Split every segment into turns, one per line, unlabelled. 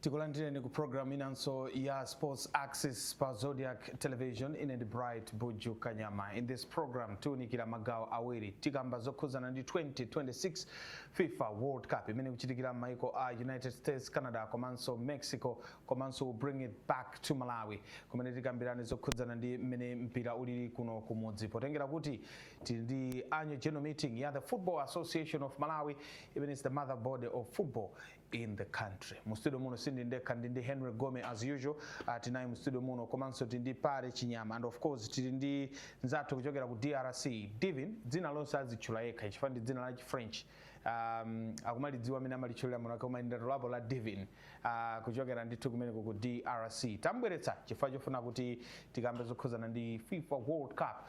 tikulandireni ku program inanso ya sports access pa zodiak television ine ndi bright buju kanyama in this program tiunikira magawo awiri tikamba zokhuzana ndi 2026 Fifa World Cup imene ikuchitikira m'maiko a United States, Canada komanso Mexico komanso we'll bring it back to Malawi kumene tikambirane zokhudzana ndi mmene mpira ulili kuno kumudzi potengera kuti tili ndi annual general meeting ya the Football Association of Malawi imene is the mother body of football in the country mu studio muno sindili ndekha ndili ndi henry gome as usual uh, tinayi mu studio muno komanso tili ndi pare chinyama and of course tili ndi nzathu kuchokera ku drc divin dzina lonse azitchula yekha chifukwa ndi dzina la chifrench um, akumalidziwa amene amalitchulira mwinamwake koma ndalipo la divin uh, kuchokera ndithu kumeneko ku drc tambweretsa chifukwa chofuna kuti tikambe zokhuzana ndi fifa world cup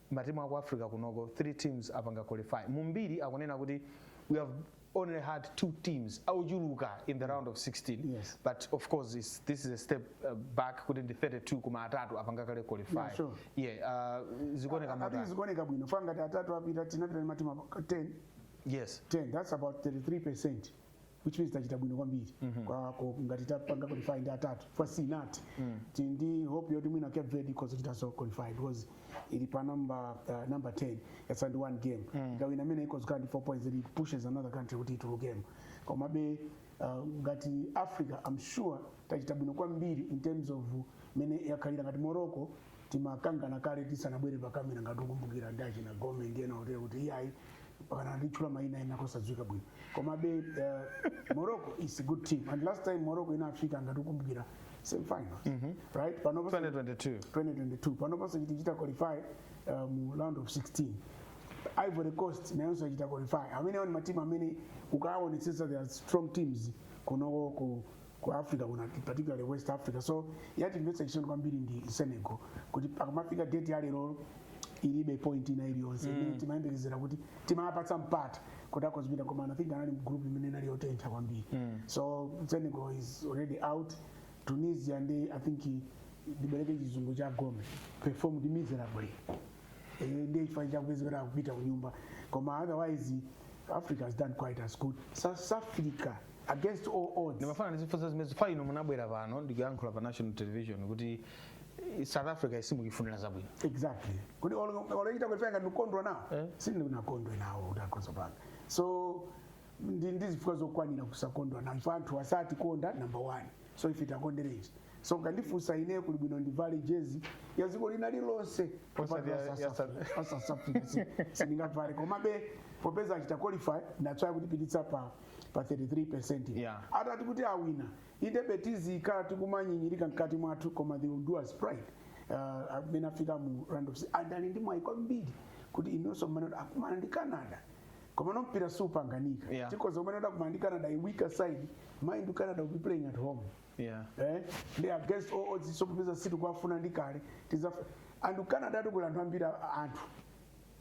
matimu aku africa kunoko 3 teams apanga qualify mumbiri akunena kuti we have only had two teams auchuluka in the round of 16 yes. but of course
this,
this is a step uh, back kuti ndi 32 koma atatu apanga kale qualify yeah, sure.
yeah,
uh, zikuoneka motani zikuoneka bwino
chifukwa ngati atatu apita tinapita ndi matimu 10 yes 10
that's about 33
percent which means tachita bwino kwambiri kwa ko- ngati tapanga qualify ndi atatu chifukwa sitinathe Ti- ndi hope yoti mwina cape verde ikhoza kuchitanso qualify because ili pa number uh, number 10 yatsala ndi one game ikawina imene ikhoza kukhala ndi 4 points it pushes another country kuti itulukemo komabe uh, ngati africa i'm sure tachita bwino kwambiri in terms of mene yakhalira ngati morocco timakangana kale tisanabwere pakamera ngati ukumbukira ndi achina gome ndi ena otero kuti iyayi mpakana anditchula mayina ena kosadziwika bwino komabe uh, morocco is a good team and last time morocco inafika ngati ukumbukira semifinals mm -hmm. right panopo 2022 2022 panopo so achita qualify uh, mu round of 16 ivory coast nayonso achita qualify amenewo ndi matimu amene ukaawonetsetsa they are strong teams kunoko ku ku africa kuna particularly west africa so yatimvetsa chisoni kwambiri ndi senegal kuti akamafika deti ya leroli ilibe point ina iliyonse imene timayembekezera kuti timapatsa mpata kuti akhoza kupita koma i think anali mgroup imene inali yotentha kwambiri so senegal is already out tunisia ndi i think ndibereke chizungu cha gome performed miserably Eh, ndiye chifukwa chake wapeza kuti akupita kunyumba koma otherwise africa has done quite as good south africa against all odds ndimafuna ndikufunseni zimenezi
chifukwa inu munabwera pano ndikuyankhula pa national television kuti eh, south africa simukuifunira zabwino exactly kuti
olechita kuti panga ndikondwa nawo Eh. sindikukondwa nawo kuti akhoza kupanga so ndi ndi zifukwa zokwanira kusakondwa nawo chifukwa anthu asatikonda number one so ife tiakonderenji so mukandifunsa ine kuli bwino ndivale jezi ya dziko lina lilonse Osati ya- ya South- sindingavale komabe popeza achita qualify ndatswaya kutipititsa pa pa 33% Yeah. atati kuti awina indebe tizikhala tikumanyinyirika mkati mwathu koma they will do us proud uh, amene afika mu round of si- and ali ndi mwayi kwambiri kuti inunso mmene kuti akumana ndi canada koma mpira supanganika Yeah. chifukwa mmene akukumana ndi canada a weaker side mind you canada will be playing at home yeah they are against all odds so popeza sitikuwafuna ndi kale tizafa and canada yatukula anthu ambiri a- anthu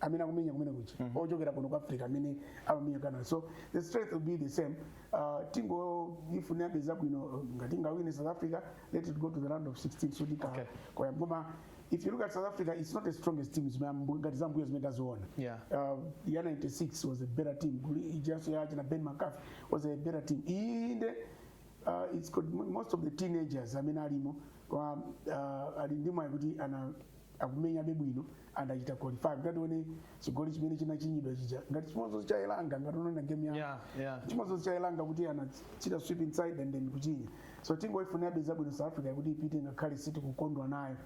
amene akumenya kumene kuja ochokera kuno ku africa amene akumenya canada so the strength will be the same uh, tingoifunirabe zabwino uh, ngati ingawine south africa let it go to the round of 16 so tikha Okay. koma if you look at south africa it's not the strongest team zimene ambu- ngati zambuyo zimene taziona Yeah. uh, ya 96 was a better team Guli- ijaso yache na ben mccarthy was a better team inde uh, it's got mo- most of the teenagers amene alimo koma uh, ali ndi mwayi kuti ana akumenyabe bwino and achita qualify tatione chigoli chimene chinachinyidwa chija ngati chimodzi cha elanga ngati unaona game ya Yeah, yeah. chimodzi cha elanga kuti anachita sweep inside and then kuchinya so tingoifunabe zabwino south africa kuti ipite ngakhale sitikukondwa nayo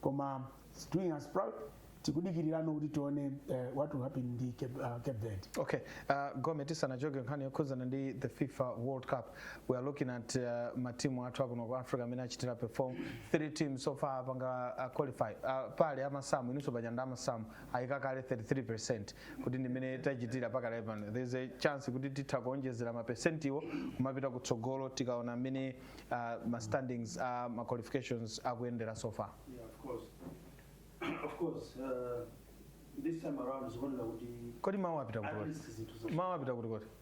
koma it's doing us proud tikudikilirano kuti tione uh, what will happen ndi cape, uh, cape verde Okay. Uh,
Gome tisanachoke nkhani yokhudzana ndi the FIFA World Cup. we are looking at uh, matimu athu akuno ku africa amene achitira perform three teams so far apanga uh, qualify uh, paja amasamu inunso paja ndi amasamu mwayika kale 33 percent kuti ndimene tachitira pakale pano there is a chance kuti titha kuonjezera mapesentiwo kumapita kutsogolo tikaona mmene uh, ma standings uh, ma qualifications akuyendera so far Yeah,
of course. of course, uh, this time around is one of the kodi mawu apita kuti at
least zinthu za- mawu apita kuti kuti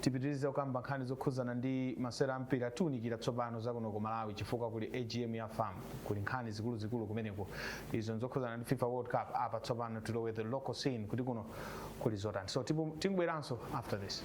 Tipitilize kukamba nkhani zokhudzana ndi masewera a mpira tiunikira tsopano za kuno ku Malawi chifukwa kuli AGM ya fam kuli nkhani zikuluzikulu kumeneko izo nzokhudzana ndi fifa world cup apa tsopano tilowe the local scene kuti kuno kuli zotani so tipu- tibweranso after this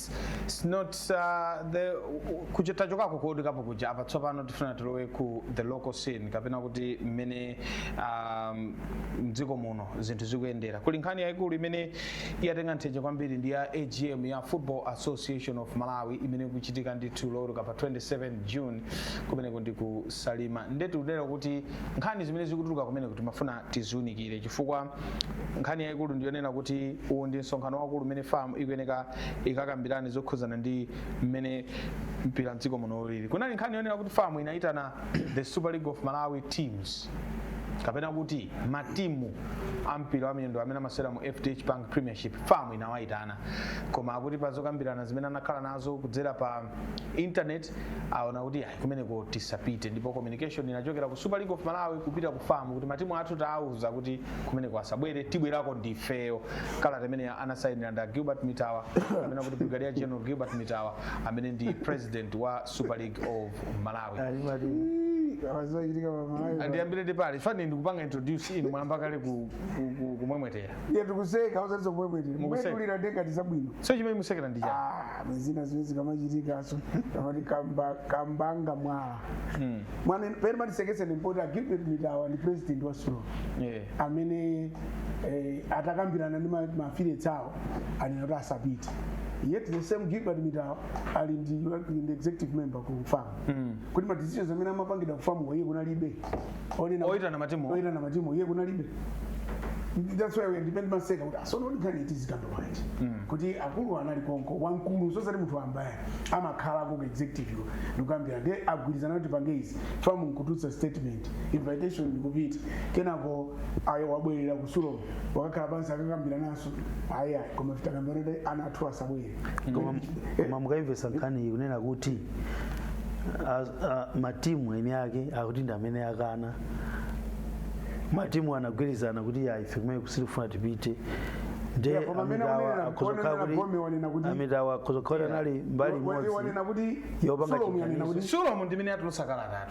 It's not uh, the kuja tachokako kuodikapo kuja apa tsopano tifuna tilowe ku the local scene kapena kuti mmene um, mdziko muno zinthu zikuyendera kuli nkhani yayikulu imene yatenga tenje kwambiri ndi ya agm ya football association of malawi imene ikuchitika ndithu loweruka pa 27 june kumeneko ndi ku salima ndetu kunena kuti nkhani zimene zikutuluka kumeneko timafuna tiziunikire chifukwa nkhani yayikulu ndiyonena kuti uwu ndi msonkhano waukulu umene fam ikuyeneka ikakambirane zokhudzana ndi mmene mpira mdziko muno ulili kunali nkhani yonena kuti fam inayitana the super league of malawi teams kapena kuti matimu a mpira wa miyendo amene amasewera mu fdh bank premiership fam inawayitana koma akuti pa zokambirana zimene anakhala nazo kudzera pa internet aona kuti ayi kumeneko tisapite ndipo communication inachokera ku super league of malawi kupita ku famu kuti matimu athu taauza kuti kumeneko asabwere tibwerako ndifeyo kalata imene anasayinira nda Gilbert mitawa amene akuti brigadier general gilbert mitawa amene ndi president wa super league of malawi ali mati awazochitika pamalawi ndiyambire ndi Pale Fani ndikupanga introduce inu mwayamba kale ku- ku- ku- kumwemwetera Ndiye
tikuseka osati kumwemwetera. Mukuseka. Kumwetulira ndiye ngati zabwino. so chimene musekera ndi
chani Ah, zina
zimene zikamachitikaso amati kamba- kambanga mwala Mm. mwana pene zimatiseketsa ndi poti agilbert mitawa ndi president wa sulom Yeah. amene eh, atakambirana ndi ma- ma affiliates awo anena kuti asapite yet the same gilbert mitawa ali ndi ndi executive member ku famu Mm. kuti ma decisions amene amapangidwa ku famu iye kunalibe Oyitana-
oyitana matimu oyitana matimu iye
kunalibe that's why we are ndimaseka kuti tsono kuti nkhani iti zikambe bwanji kuti akulu anali konko wamkulu sosati munthu wamba ayi amakhala ku executive yo ndikukambira nde agwirizana kuti tipange izi famu nkutulutsa statement invitation ndikupita kenako awo abwerera ku sulom akakhala pansi akakambirananso ayi ayi koma titakambira kuti ana athu asabwere koma
koma mukayimvesa nkhani iyi kunena kuti a- a- matimu eni ake akuti ndi amene akana matimu anagwirizana kuti ayi ife kumeneko sitikufuna tipite nde Yeah, koma amene amitawa wanena- akhozokhala wanena kuti Gomi wanena kuti- amitawa akhozokhala kuti anali mbali Wa- wa- imodzi wanena kuti yopanga Sulom yanena chipanizo. kuti sulom
ndimene atulusa kalatayo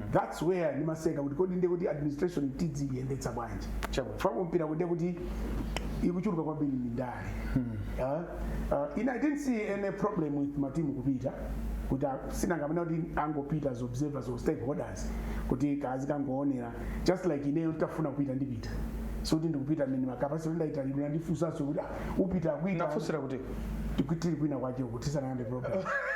that's why ndimaseka kuti kodi ndiye kuti administration tidziyendetsa bwanji Chabwino. chifukwa mpira kuti kuti ikuchuluka kwambiri ndi ndale Ah, ah, ine i didn't see any problem with matimu kupita kuti a- anangonena kuti angopita as observers or stakeholders kuti azikangoonera just like ineyo nditafuna kupita ndipita so kuti ndikupita mene makapasi kuti ndaitanidwa ndifunsanso kuti ah, upita
kuita
ndafusira kuti tikutiri kwina kwacho kutisana ndi problem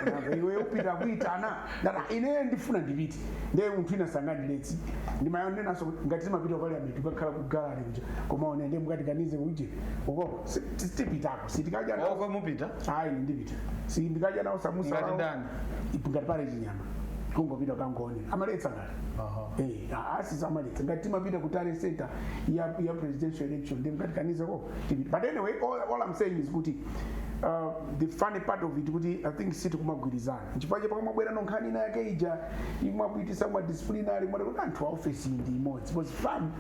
Unamva, iwe upita kuitana Ndana ine ndifuna ndipite. Ndiye munthu wina sangandiletse. Ndimayonenanso kuti ngati timapita ku Parliament kukakhala ku gallery kuja. Koma one ndiye mukatikanize kuti ukoko si- ti- tipitako. Sitikadya nawo. Uko mupita? Ayi ine
ndipita.
Sindikadya nawo samusa. Ngati wawo. ndani?
Ipo ngati
pali chinyama. Kungopita kangone. Amaletsa ngati. Aha. Eh, ah, asi samaletsa. Ngati timapita ku tally center ya ya presidential election ndiye mukatikanize ko. Tipita. But anyway all, all I'm saying is kuti uh, the funny part of it kuti I think sitikumagwirizana. nchifukwa chake pakamabwera nkhani ina yake ija imawapititsa kuma disciplinary muona kuti anthu a office iyi ndi imodzi because fam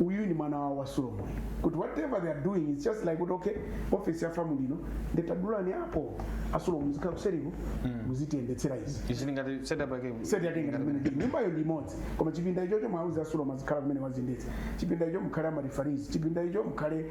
uyu ni mwana wawo wa sulom kuti whatever they are doing it's just like kuti okay office ya fam ili ino nde tadulani apo a sulom muzikhala kuseriku muzitiyendetsera izi izi ndingati setup
yake seti yatenga
kumene nyumbayo ndi imodzi koma chipinda ichocho mwauza a sulom azikhala kumeneko aziyendetsa chipinda icho mukhale ama referees chipinda icho mukhale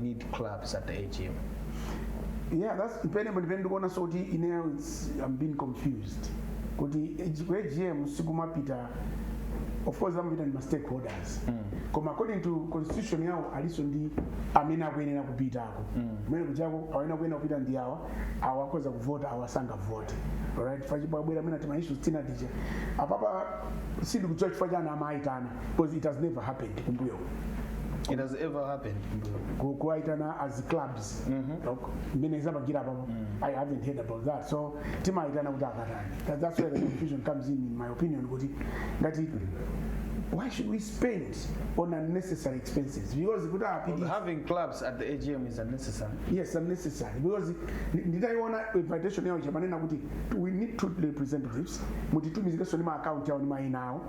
need clubs at the
AGM? Yeah, that's depending, but depending on so the in here it's I'm being confused kuti AGM sikumapita of course amapita ma stakeholders. Mm. Koma according to constitution yao aliso ndi amene akuyenera kupitako. Mm. Mmene kujako amene akuyenera kupita ndi awa awa akhoza kuvota awa sangavote. Alright, fachi bwabwera mena tima issues tina dije. Apapa sidi kuchoka chifukwa chani amaitana. because it has never happened kumbuyo uko. it
has ever happened Ku-
kuwaitana as clubs Ok, mmene zapangira apapo i haven't heard about that so timaitana kuti akatani That- that's where the confusion comes in in my opinion kuti ngati why should we spend on unnecessary expenses because kuti apidi having
clubs at the agm is unnecessary yes unnecessary
because ndi- nditaiona invitation yawo ija amanena kuti we need two representatives mutitumizirenso ndi ma account yawo ndi maina awo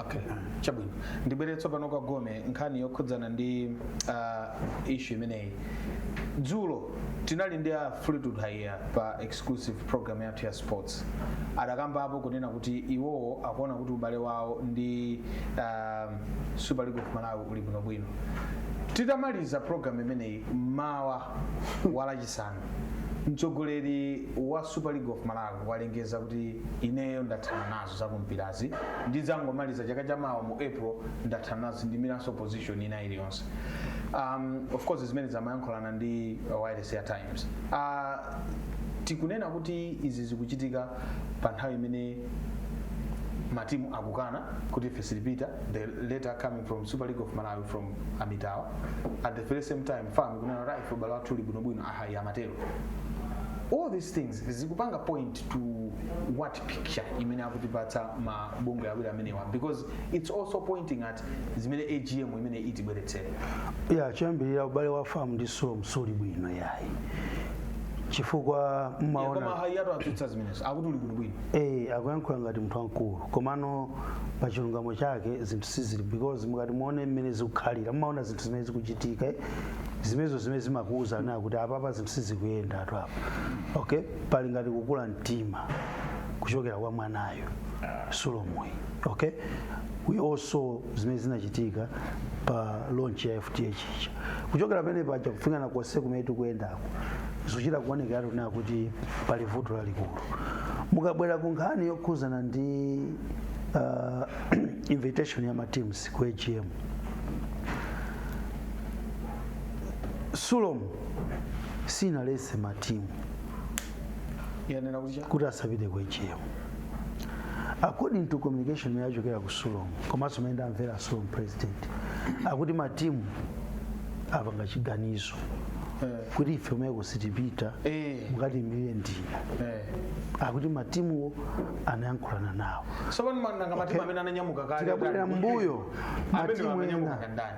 Okay. Chabwino.
Ndibwere tsopano kwa Gome nkhani yokhudzana ndi uh, issue imeneyi. Dzulo tinali ndi a Fleetwood Haiya pa exclusive program yathu ya sports. Adakambapo kunena kuti iwowo akuona kuti ubale wawo ndi uh, Super League of Malawi uli bwinobwino. Titamaliza program imeneyi mmawa wa Lachisanu mtsogoleri wa Super League of Malawi walengeza kuti ineyo ndathana nazo. zakumpirazi ndidzangomaliza chaka chamawa mu april ndathana nazo sindiimiranso position ina iliyonse um, of course zimenezo amayankhulana ndi uh, wireless ya times uh, tikunena kuti izi zikuchitika pa nthawi imene matimu akukana kuti ife sitipita the letter coming from super league of malawi from a mittawa at the very same time fam ikunena kuti ah ife ubale wathu uli bwinobwino a haiya amatero all these things zikupanga point to what picture imene akutipatsa ma bungwe awiri amenewa because it's also pointing at zimene agm imene itibweretsere ya
choyambirira ubale wa FAM ndi sulom siuli bwino yayi chifukwa koma mmaona Haiyatu atsutsa
zimenezo akuti uli bwinobwino eh akuyankhula
ngati munthu wamkulu komano pa chilungamo chake zinthu sizili bwino because mukati muone mmene zikukhalira mmaona zinthu zimene zikuchitika eh, zimenezo zimene zimakuwuza kunena kuti apapa zinthu sizikuyendatu apa okay pali ngati kukula mtima kuchokera kwa mwanayo sulomuyi okay we all saw zimene zinachitika pa launch ya fdh ija kuchokera pamene paja kufika nakonse kumene tikuyendako zochita kuonekera tikuona kuti pali vuto lalikulu mukabwera ku nkhani yokhuzana ndi uh, invitation ya mateams ku agm sulom sinaletse matimu yanena kuti cha kuti asapite ku agm according to communication imene yachokera ku Sulom komanso imene ndamvera Sulom president akuti matimu apanga chiganizo eh, kuti ife kumeneko sitipita eh, mukatiimilire ndinu eh. akuti matimuwo anayankhulana nawo tsopano nanga matimu amene ananyamuka kale tikabwerera mbuyo amene matimu ananyamuka ena kandani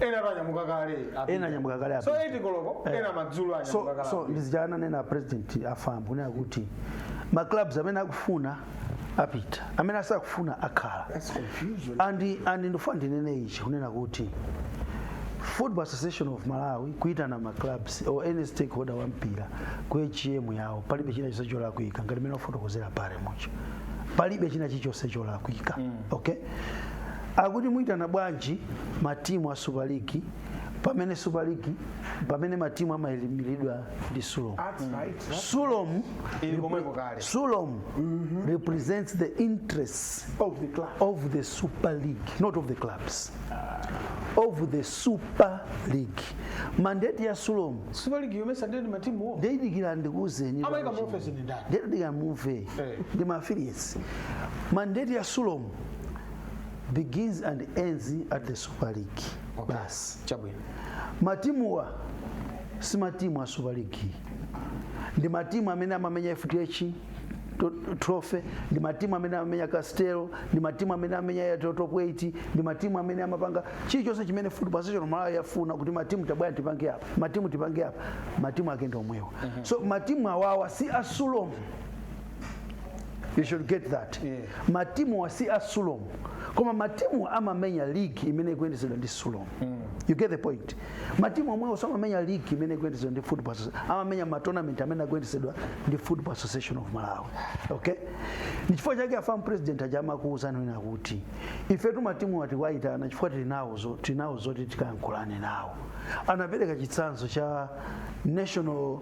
ena ananyamuka kale apita. Ena ananyamuka kale so apita. 8 koloko Eh. ena madzulo anyamuka so, kale so apita. ndi zija
ananena president a FAM kunena kuti ma clubs amene akufuna apita amene sakufuna akhala That's
confusion. and and
ndifuna ndinene ichi kunena kuti football association of malawi kuitana ma clubs or any stakeholder wa mpira ku agm yawo palibe china chilichonse cholakwika ngati mmene afotokozera paja mucho palibe china chilichonse cholakwika okay akuti muitana bwanji matimu a super league pamene super league pamene matimu amayimiridwa ndi sulom sulom Ili komweko kale. sulom represents the interests of the club of the super league not of the clubs of the super league mandate ya sulom super league omenya ndani
matimuwo ndiye dikirani ndikuuzeni
Amayika mu office ndi
ndani? ndiye dikirani mumve
Eh. ndi ma affiliates mandate ya sulom begins and ends at the super league Okay. basi
chabwino matimuwa
si matimu a super league ndi matimu amene amamenya fdh to- trophy ndi matimu amene amamenya castel ndi matimu amene amenya ya to- top 8 ndi matimu amene amapanga chilichonse chimene football association malawi yafuna kuti matimu tabwerani tipange apa matimu tipange apa matimu ake ndi omwewa so matimu awawa si a sulom you should get that Yeah. matimuwa si a sulom koma matimu amamenya ligi imene ikuyendetsedwa ndi sulom you get the point matimu omwewo samamenya ligi imene ikuyendetsedwa ndi football Associ- amamenya matournament amene akuyendetsedwa ndi football association of malawi okay ndi chifukwa chake a fam president aja amakuwuzani kunena kuti ifetu matimuwa tiwayitana chifukwa tili nawo zo- tili nawo zoti tikayankhulane nawo anapereka chitsanzo cha national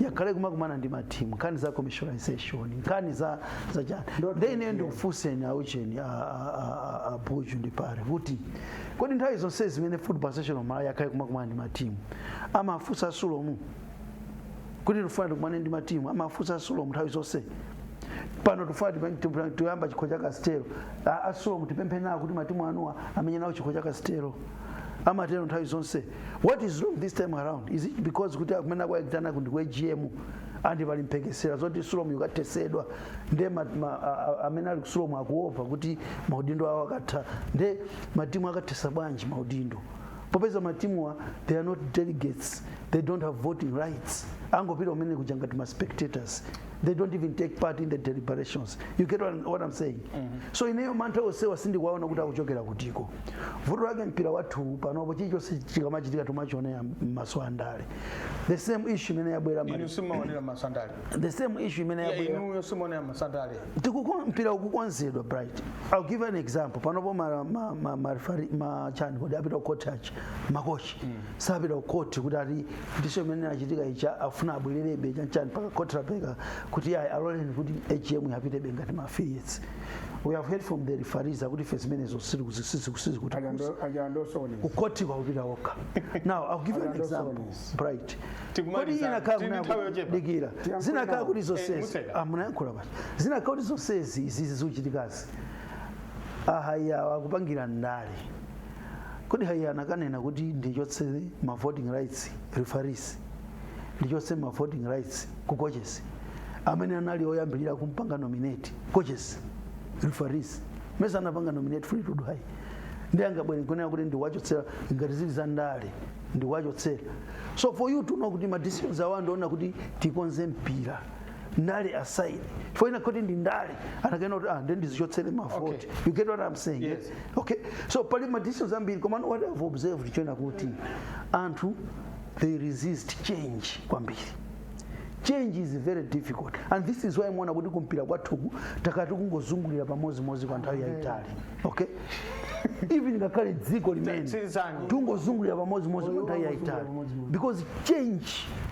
yakhala ikumakumana ndi matimu nkhani za commercialization nkhani za za chani Ndoti then ineyo ndiye. ndikufunseni aucheni abuju ndi pare kuti kodi nthawi zonse zimene football association of malawi yakhala ikumakumana ndi matimu amafunsa sulomu kuti tikufuna tikumane ndi matimu amafunsa sulomu nthawi zonse pano tikufuna tipe- tipe- tuyamba chikho cha castel A- a sulomu tipemphe nawo kuti matimu anuwa amenye nawo chikho cha castel amatero nthawi zonse what is wrong this time around is it because kuti kumene akuwaitanaku ndi ku agm and pali mphekesera zoti sulomu yukathetsedwa nde ma- ma- a- a- amene ali kusulomu akuopa kuti maudindo awo akatha nde matimu akathetsa bwanji maudindo popeza matimuwa they are not delegates they don't have voting rights angopita kumene kuja ngati ma spectators they don't even take part in the deliberations you get what, what i'm saying so ineyo mantha onsewa sindikuwaona kuti akuchokera kutiko vuto lake mpira wathuwu panopo chilichonse chikamachitika tumachionera m'maso andale the same issue imene yabwera inu mali-
simaonera maso andale the same issue
imene Yeah, yabwera inuyo simaonera maso
andale Tikuko-
mpira ukukonzedwa bright i'll give you an example panopo ma- ma- ma- ma- refari- ma- chani kodi apita ku court achi makochi sapita ku court kuti ati ndicho imene inachitika ija afuna abwererebe chanichani mpaka court lapereka kuti ayi aloleni kuti agm apitebe ngati ma affiliates we have heard from the referees akuti ife zimenezo sizikuti- kukhotiko akupita okha now i'll give you an example bright kodi inakhala kunadikira zinakhala kuti zonsezi a munayankhula basi zinakhala kuti zonsezi izizi zikuchitikazi a haiya akupangira ndale kodi haiya anakanena kuti ndichotse ma voting rights referees ndichotse ma voting rights ku coaches amene anali oyambirira kumpanga nominate coaches referees mesa anapanga nominate fleetwood haiya nde angabwere nkunena kuti ndiwachotsera ngati zili za ndale ndiwachotsera so for you to know kuti ma decisions awa ndi onena kuti tikonze mpira ndale aside chifukwa ina kuti ndi ndale anakanena kuti ah ndiye ndizichotsere mavoti Okay. you get what i'm saying Yes.
okay so pali
ma decisions ambiri koma what i've observed n'chonena kuti anthu they resist change kwambiri change is very difficult and this is why muona kuti kumpira kwathuku takhala tikungozungulira pamozimozi kwa nthawi yayitali okay even ngakhale dziko limene Tsilizani. tungozungulira pamozimozi kwa nthawi yayitali because change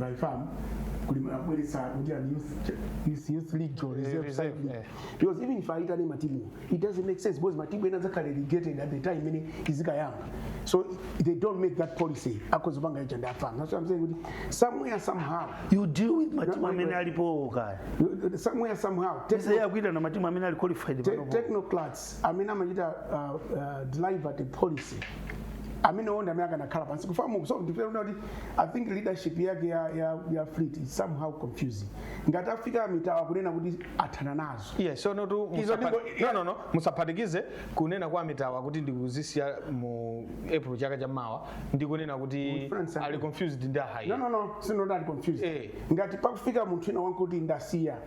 by fam kuli amabweretsa kuti ndi youth youth- youth league or reserve reserve, side league. eh. because even if aitane matimu it doesn't make sense because matimu ena zakhala relegated at the time imene izikayamba so they don't make that policy akhoza panga icho ndi a fam so i'm saying kuti somewhere somehow you deal with
matimu amene alipowo kaya
somewhere somehow techno- iyayi akuitana matimu amene ali qualified te- panopo technocrats amene amachita uh, uh, deliver the policy amene ndi amene akanakhala pansi kufika mu so ndikuti kuti i think leadership yake ya, ya, ya fleet is somehow confusing ngati afika mitawa kunena kuti athana nazo yes so no tu
Izo musapa- ndiko- no no no musaphatikize kunena kwa mitawa kuti ndikuzisiya mu april chaka cha mawa ndi kunena kuti Mufuna ndisankhule. ali confused ndi ahayi no no no si not
confused Eh. ngati pakufika munthu ina wankuti ndasiya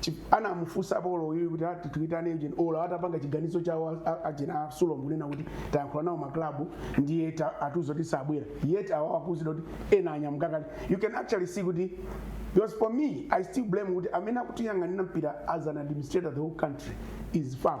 Chip- anamufunsa apolo uyu kuti ati tiitane ujeni ola atapanga chiganizo chawo a- a- aujeni a sulomu kunena kuti tayankhula nawo maklabu ndiye ta- atiuza zoti sabwera yet awa akuuzidwa kuti ena anyamuka kale you can actually see kuti because for me i still blame kuti amene akutiyang'anira mpira as an administrator the whole country is fam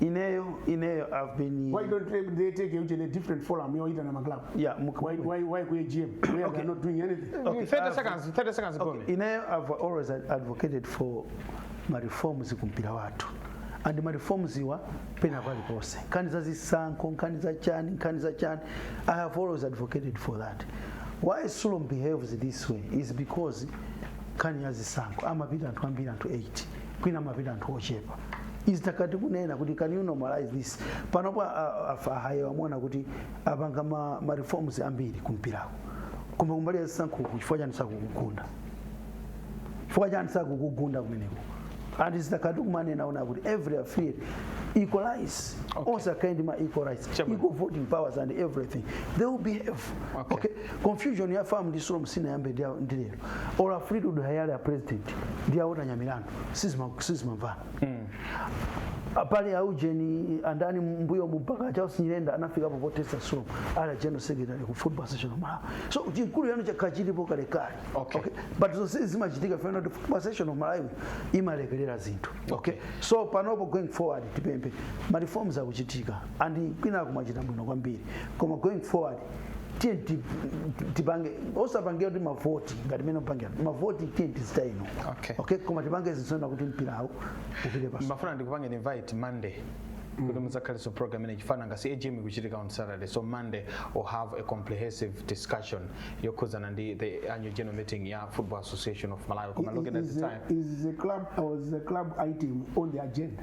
ineyo ineyo i've been why don't they, they
take you in a different forum yoyitana maclub yeah muk- why,
why, why
ku agm where Okay. they are not doing anything Okay, 30 I've- seconds, 30
seconds okay. gone. ineyo i've
always ad- advocated for ma reforms ku mpira wathu and ma reforms iwa pena paliponse nkhani za zisankho nkhani za chani nkhani za chani i have always advocated for that why sulom behaves this way is because nkhani ya zisankho amapita anthu ambiri anthu 8 kwina amapita anthu ochepa izi titakhala tikunena kuti can you normalize this panopo a haiya mwaona kuti apanga ma, ma reforms ambiri kumpirako koma kumbali ya zisankhoku chifukwa chani sakukugunda chifukwa chani sakukugunda kumeneko and atakhala akumanena kuti every affiliate equalize okay. onse akhale ndi ma equal rights Chairman. equal voting powers and everything they will behave Okay. confusion ya fam ndi sulom sinayambe ndi ya- ndi lero or a fleet haiya ali a president ndi a walter nyamilandu sizima- sizimamvana pali aujeni andani mbuyomu mpaka charles nyirenda anafika po po-protester sulom ali general secretary ku football association of malawi so chikulu yano chakhala chilipo kalekale Okay. but zonse zimachitika chifukwa kuti football association of malawi imalekerera zinthu okay so panopo going forward tipemphe ma reforms akuchitika and kwina akumachita bwino kwambiri koma going forward tiye ti- ti- tipange osapangira kuti mavoti ngati mmene opangira mavoti tiye tichita ino Okay. okay koma tipange zoonetsa kuti mpirawo upite patsogolo ndimafuna ndikupangeni invite
monday kuti mudzakhalenso program imene chifukwa nanga si agm ikuchitika on saturday so monday will have a comprehensive discussion yokhudzana ndi the annual general meeting ya football association of malawi koma looking
at Is
the
the, time
is the
club
or
is the
club item
on the
agenda?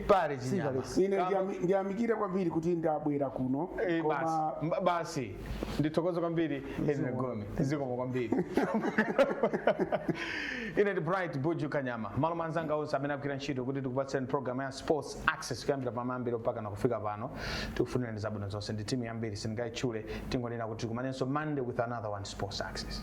pale chinyama Sibale. ine
ndiyami- ndiyamikire kwambiri kuti ndabwera kuno Eh, basi koma Mba-
basi ndithokoze kwambiri Henry Gome zikomo kwambiri ine ndi bright buju Kanyama mmalo mwa anzanga onse amene agwira ntchito kuti tikupatseni program ya sports access kuyambira pamayambiro mpaka nakufika pano tikufunirani zabwino zonse ndi timu yambiri sindingayitchule tingonena kuti tikumanenso monday with another one sports access